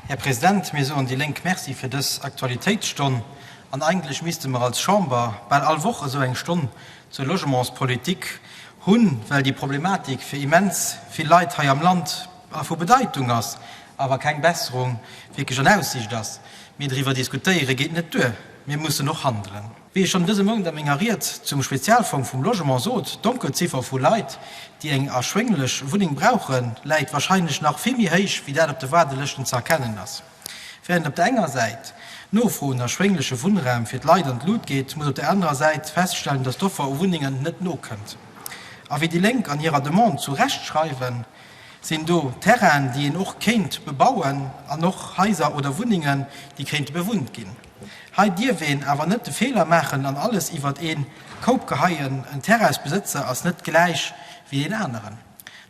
Här President, mir soen déi Lénk Merci fir dës Aktualitéitsstonn. An eigentlech misste mer als Chamber bal all Woch esou eng Stonn zur Logementspolitik hunn, well déi Problematik fir immens vill Leit hei am Land vu Bedeitung ass, awer keng Besserung wierklech an Aussicht ass. Mee driwwer diskutéiere geet net duer, mir mussen och handelen. Wéi ech schonn dëse Mount a menger Ried zum Spezialfong vum Logement sot, d'Donkelziffer vu Leit, déi eng erschwénglech Wunneng brauchen, läit wahrscheinlech nach vill méi héich, wéi dat op de Waardelëschten ze erkennen ass. Während op der enger Säit d'Nofro un erschwéngleche Wunnraum fir d'Leit an d'Lut geet, muss op der anerer Säit feststellen, dass d'Offer u Wunnengen net nokënnt. A wéi déi Lénk an hirer Demande zu Recht schreiwen, sinn do Terrainen, déi een och kéint bebauen, an och Haiser oder Wunnengen, déi kéinte bewunnt ginn. Hei dierf een awer net de Feeler maachen an alles iwwert een Koup geheien, en Terraisbesëtzer ass net gläich wéi een aneren.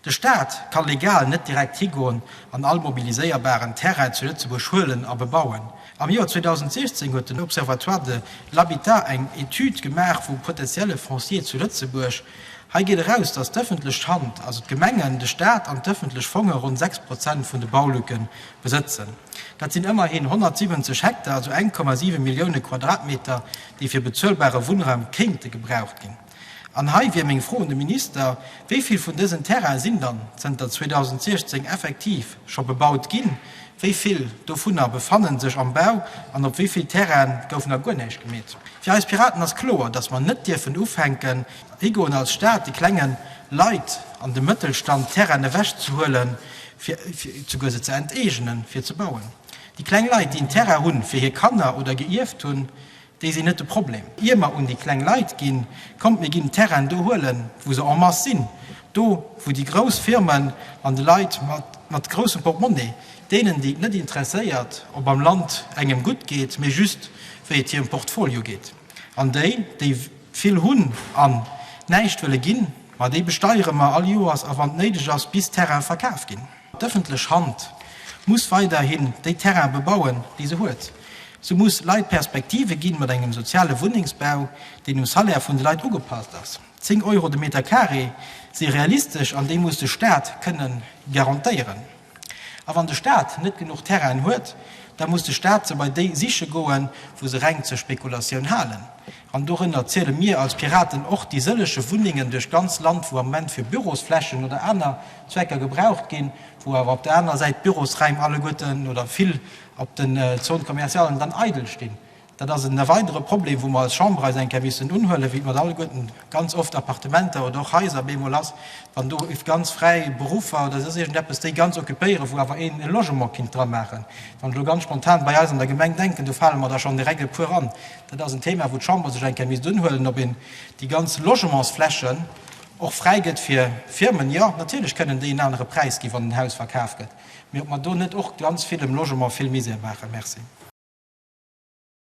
De Staat ka legal net direkt higoen an all mobiliséierbaren Terrain zu Lëtzebuerg huelen a bebauen. Am Joer 2016 huet den Observatoire de l'habitat eng Etüd gemaach vum potentielle Foncier zu Lëtzebuerg. Hei geet eraus, datt d'ëffentlech Hand, also d'Gemengen, de Staat an d'ëffentlech Fonge ronn 6 Prozent vun de Baulücke Besëtzen. Dat sinn ëmmerhin 170 Hektar, also 1,7 Millioune Quadratmeter, déi fir bezuelbare Wunnraum kéinte gebraucht ginn. An hei wier meng Fro un de Minister, Wéi vill vun dësen Terraine sinn dann zënter 2016 effektiv scho bebaut ginn, wéi vill dovunner befannen sech am Bau an op wéi vill Terraine gouf nach guer näischt gemeet? Fir eis Piraten ass kloer, datt mer net dierfen ufänken, higoen als Staat de klenge Leit an dem Mëttelstand Terraine ewechzehuelen, fir souguer se ze enteegenen, fir ze bauen. Déi kleng Leit, déi en Terrain hunn, fir hir Kanner oder geierft hunn, déi sinn net de Problem. Ier mer un déi kleng Leit ginn, kommt, mir ginn d'Terrainen do huelen, wou se en masse sinn, do, wou déi grouss Firmen an de Leit mat groussem Portemonnaie, deenen, déi et net interesséiert, ob am Land engem gutt geet, mee just, wéi et hirem Portfolio geet, an déi, déi. Vill hunn an näischt wëlle ginn, ma déi besteiere mer all Joers a wann néideg ass, bis d'Terraine verkaf ginn. D'ëffentlech Hand muss weiderhin déi Terraine bebauen, déi se huet. Se muss Leit Perspektive ginn, mat engem soziale Wunnengsbau, deen um Salaire vun de Leit ugepasst ass. Zéng Euro de Meter carré si realistesch an déi muss de Staat kënnen garantéieren. A wann de Staat net genuch Terrainen huet, da muss de Staat se bei déi siche goen, wou se reng zur Spekulatioun halen. An dorënner ziele mir als Piraten och déi sëlleche Wunnengen duerch d'ganz Land, wou am Moment fir Bürosflächen oder aner Zwecker gebraucht ginn, wou awer op der anerer Säit d'Bürosraim alleguerten oder vill op den Zones commercialen dann eidel stinn. Dat ass e weidere Problem, wou mer als Chamber eis eng Kéier missten unhuelen, wéi et mat alleguerten ganz oft Appartementer oder och Haiser op eemol ass, wann do ganz fräi Beruffer oder soss iergendeppes déi ganz occupéieren, wou awer een e Logement kinnt dra maachen. Wann ech elo ganz spontan bei eis an der Gemeng denken, do fale mer der schonn direkt e puer an. Dat ass en Thema, wou d'Chamber sech eng Kéier misst unhuelen, ob een déi ganz Logementsflächen och fräi gëtt fir Firmen. Jo, natierlech kënnen déi en anere Präis ginn, wann en Haus verkaf gëtt, mee ob mer do net och ganz vill dem Logement vill Misär maachen. Merci.